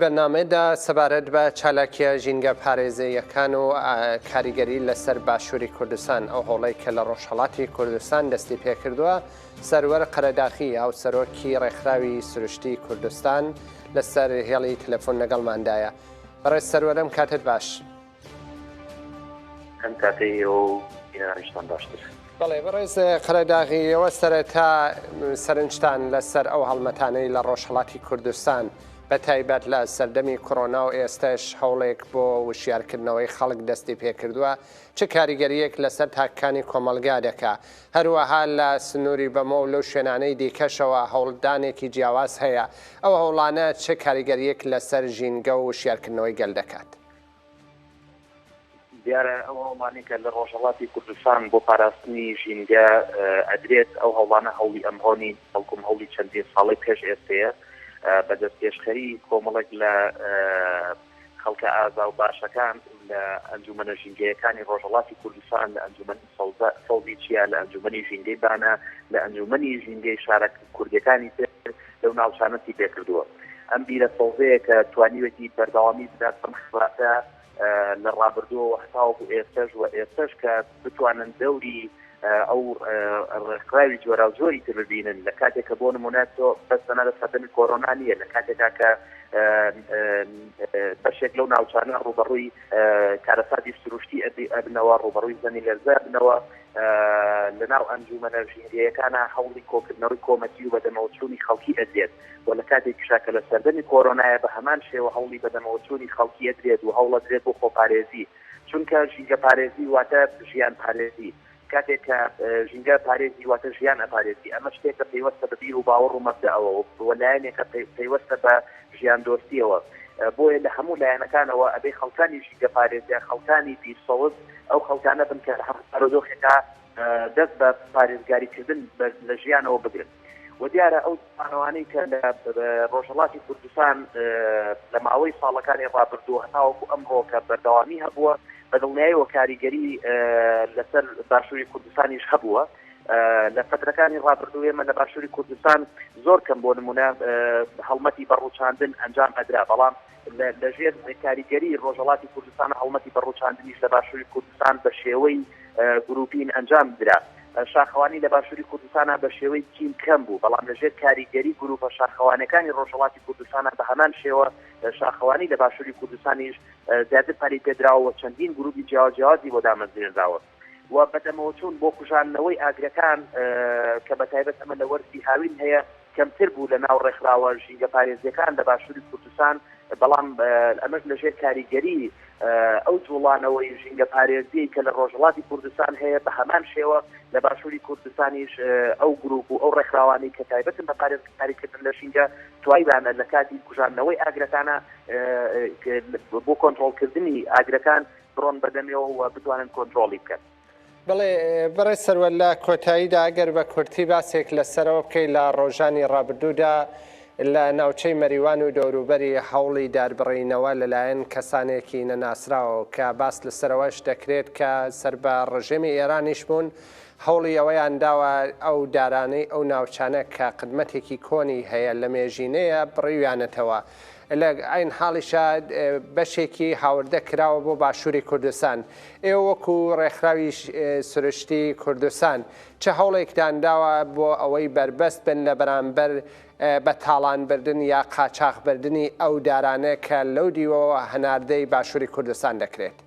بەرنامەیەدا سەبارەت بە چالاکییە ژینگە پارێزەییەکان و کاریگەری لەسەر باشووری کوردستان، ئەو هەوڵەی کە لە ڕۆژهەڵاتی کوردستان دەستی پێکردووە، سەروەر قەرەداخی، هاوسەرۆکی ڕێکخراوی سروشتیی کوردستان لەسەر هێڵی تەلەفۆن لەگەڵماندایە. بەڕێز سەروەر ئەم کاتەت باش. ئەم کاتەی ئێوە و ئێرانیشتان باشتر. بەڵێ بەڕێز قەرەداغی ئێوە سەرەتا سەرنجتان لەسەر ئەو هەڵمەتانەی لە ڕۆژهەڵاتی کوردستان بە تایبەت لە سەردەمی کۆرۆنا و ئێستەش هەوڵێک بۆ وشیارکردنەوەی خەڵک دەستی پێکردووە چ کاریگەریەک لەسەر تاکەکانی کۆمەڵگا دەکا هەروەها لە سنووری بەمۆ و لەو شوێنانەی دیکەشەوە هەوڵدانێکی جیاواز هەیە ئەو هەوڵانە چ کاریگەریەک لەسەر ژینگە و وشیارکردنەوەی گەل دەکات؟ دیارە ئەو هەوڵانەی کە لە ڕۆژهەڵاتی کوردستان بۆ پاراستنی ژینگە ئەدرێت، ئەو هەوڵانە هەوڵی ئەمڕۆ نین، بەڵکوم هەوڵی چەندین ساڵەی پێش ئێستەیە بە دەستپێشخەری کۆمەڵێک لە خەڵکە ئازا و باشەکان لە ئەنجوومەنە ژینگەیەکانی ڕۆژهەڵاتی کوردستان، لە ئەنجوومەنی سەوزە سەوزی چیا لە ئەنجوومەنی ژینگەی بانە، لە ئەنجوومەنی ژینگەی شارە کوردییەکانی تر لەو ناوچانەشی پێ کردووە. ئەم بیرە سەوزەیە کە توانیوێتی بەردەوامی بدات بەم خەباتە لە ڕابردووەوە هەتاوەکو ئێستەش و ئێستەش کە بتوانن دەوری ئەو ڕێکخراوی جۆراوجۆری تر ببینن لە کاتێک کە بۆ نموونە تۆ بەس تەنانەت سەردەمی کۆرۆنا نییە لە کاتێکا کە بەشێک لەو ناوچانە ڕووبەڕووی کارەساتی سروشتی ئەبنەوە ڕوبەڕووی زەمی لەرزە بنەوە لە ناو ئەنجومەنە ژینگەیەکانە هەوڵی کۆکردنەوەی کۆمەکی و بەدەمەوەچوونی خەڵکی ئەدرێت و لە کاتێک کشاکە لە سەردەمی کۆرۆنایە بە هەمان شێوە هەوڵی بەدەمەوەچوونی خەڵکی ئەدرێت و هەوڵەدرێت بۆ خۆپارێزی چونکە ژینگە پارێزی واتە ژیان پارێزی کاتێک کە ژینگە پارێزی واتە ژیان ئەپارێزی، ئەمە شتێکە پەیوەستە بە بیر و باوەڕ و مەبدەئەوە و لایەنێکە پەیوەستە بە ژیاندۆستیەوە، بۆیە لە هەموو لایەنەکانەوە ئەبێ خەڵکانی ژینگە پارێزیان خەڵکانی بیر سەوز ئەو خەڵکانە بن کە لە هەموو بارودۆخێکا دەست بە پارێزگاریکردن لە ژیانەوە بگرن. وە دیارە ئەو پانەوانەی کە لە ڕۆژهەڵاتی کوردستان لە ماوەی ساڵەکانی ڕابردوو هەتاوەکو ئەم ڕۆکە بەردەوامی هەبووە بە دڵنیایەوە کاریگەری لەسەر باشووری کوردستانیش هەبووە لە فترەکانی ڕابردوو ئێمە لە باشووری کوردستان زۆر کەم بۆ نمونە هەڵمەتی بەڕوچاندن ئەنجام ئەدرا بەڵام لەژێر کاریگەری ڕۆژەڵاتی کوردستان هەڵمەتی بەڕوچاندنیش لە باشووری کورد کوردستان بە شێوەی گرووپین ئەنجام درا. شاخەوانی لە باشووری کوردستان بە شێوەی تیم کەم بوو، بەڵام لە ژێر کاریگەری گرووپە شاخەوانیەکانی ڕۆژهەڵاتی کوردستان بە هەمان شێوە شاخەوانی لە باشووری کوردستانیش زیاتر پەرەی پێ دراوە و چەندین گرووپی جیاواز جیاوازی بۆ دامەزرێنراوە و بەدەمەوە چوون بۆ کوژاندنەوەی ئاگرەکان کە بە تایبەت ئەمە لە وەرزی هاوین هەیە کەمتر بوو لە ناو ڕێکخراوە ژینگەپارێزییەکان لە باشووری کوردستان، بەڵام ئەمەش لە ژێر کاریگەری ئەو جوڵانەوەی ژینگەپارێزیەی کە لە ڕۆژهەڵاتی کوردستان هەیە بە هەمان شێوە لە باشووری کوردستانیش ئەو گروپ و ئەو ڕێکخراوانی کە تایبەتن بە پارێزگاریکردن لە ژینگە توایبانە لە کاتی کوژاندنەوەی ئاگرەکانە بۆ کۆنتترۆلکردنی ئاگرەکان بڕۆن بەدەمێەوە و بتوانن کۆنتترۆلی بکەن. بەڵێ بەڕێز سەروەر لە کۆتاییدا ئەگەر بە کورتی باسێک لەسەرەوە بکەیت لە ڕۆژانی ڕابردوودا لە ناوچەی مەریوان و دەوروبەری هەوڵی داربڕینەوە لەلایەن کەسانێکی نەناسراوەوە کە باس لەسەرەوەش دەکرێت کە سەر بە ڕژێمی ئێرانیش بوون هەوڵی ئەوەیان داوە ئەو دارانەی ئەو ناوچانە کە قدمەتێکی کۆنی هەیە لە مێژینەیە بڕیویانەتەوە لە عەین حاڵیشا بەشێکی هاوردە کراوە بۆ باشووری کوردستان. ئێوە وەکو ڕێکخراوی سروشتی کوردستان چ هەوڵێکتان داوە بۆ ئەوەی بەربەست بن لە بەرامبەر بە تاڵان بردن یا قاچاخ بردنی ئەو دارانە کە لەو دیوەوە هەناردەی باشووری کوردستان دەکرێت؟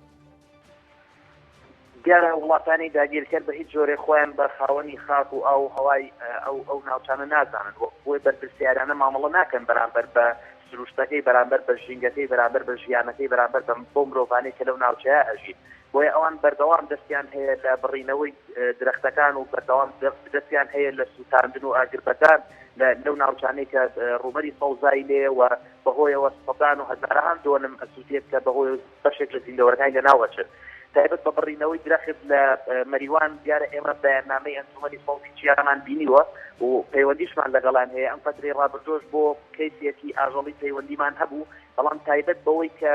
دیارە وڵاتانی داگیرکەر بە هیچ جۆرێک خۆیان بە خاوەنی خاک و ئاو و هەوای ئەو ئەو ناوچانە نازانن، وەک خۆی بەرپرسیارانە مامەڵە ناکەن بەرامبەر بە سروشتەکەی، بەرامبەر بە ژینگەکەی، بەرامبەر بە ژیانەکەی، بەرامبەر بەو مرۆڤانەی کە لەو ناوچەیە ئەژین. بۆیە ئەوان بەردەوام دەستیان هەیە لە بڕینەوەی درەختەکان و بەردەوام دەستیان هەیە لە سووتاندن و ئاگربەدان لەو ناوچانەی کە ڕووبەری سەوزایی لێیە و بەهۆیەوە سەدان و هەزارەهان دۆنم ئەسووتێت کە بەهۆی بەشێک لە زیندەوەرەکانی لەناو ئەچن تایبەت بە بڕینەوەی درەخت لە مەریوان دیارە ئێمە بەیاننامەی ئەنجومەنی سەوزی چیامان بینیوە و پەیوەندیشمان لەگەڵان هەیە ئەم فەترەی ڕابردۆش بۆ کەیسێکی ئاژەڵی پەیوەندیمان هەبوو بەڵام تایبەت بەوەی کە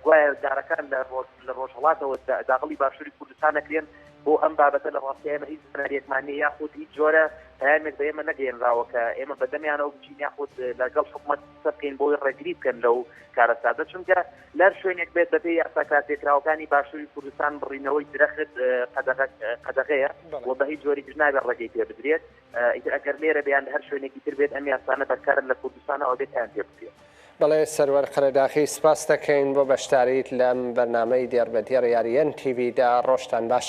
گوایە دارەکان لە لە ڕۆژهڵاتەوە داغڵی باشووری کوردستان نەکرێن بۆ ئەم بابەتە لە ڕاستی ئێمە هیچ سناریەکمان نیە یاخود هیچ جۆرە پامێک بە ئێمە نەگەێنراوە کە ئێمە بەدەمیانەوە بچین یاخود لەگەڵ حکومەت قسە بکەین بۆی ڕێگری بکەن لەو کارەساتە چونکە لەر شوێنێک بێت بەپێ یاسا کارپێکراوەکانی باشووری کوردستان بڕینەوەی درەخت قەدەغەیە و بە هیچ جۆری جنابێت ڕێگەی پێ بدرێت ئیتر ئەگەر لێرە بیان هەر شوێنێکی تر بێت ئەم یاسانە بەرکارن لە کوردستانەوە بێت یان پێ بدرێت. بەڵێ سەروەر قەرەداخی سپاست دەکەین بۆ بەشداریت لەم بەرنامەی دێڕ بە دێڕ یاری ئێن تی ڤی دا ڕۆژتان باش.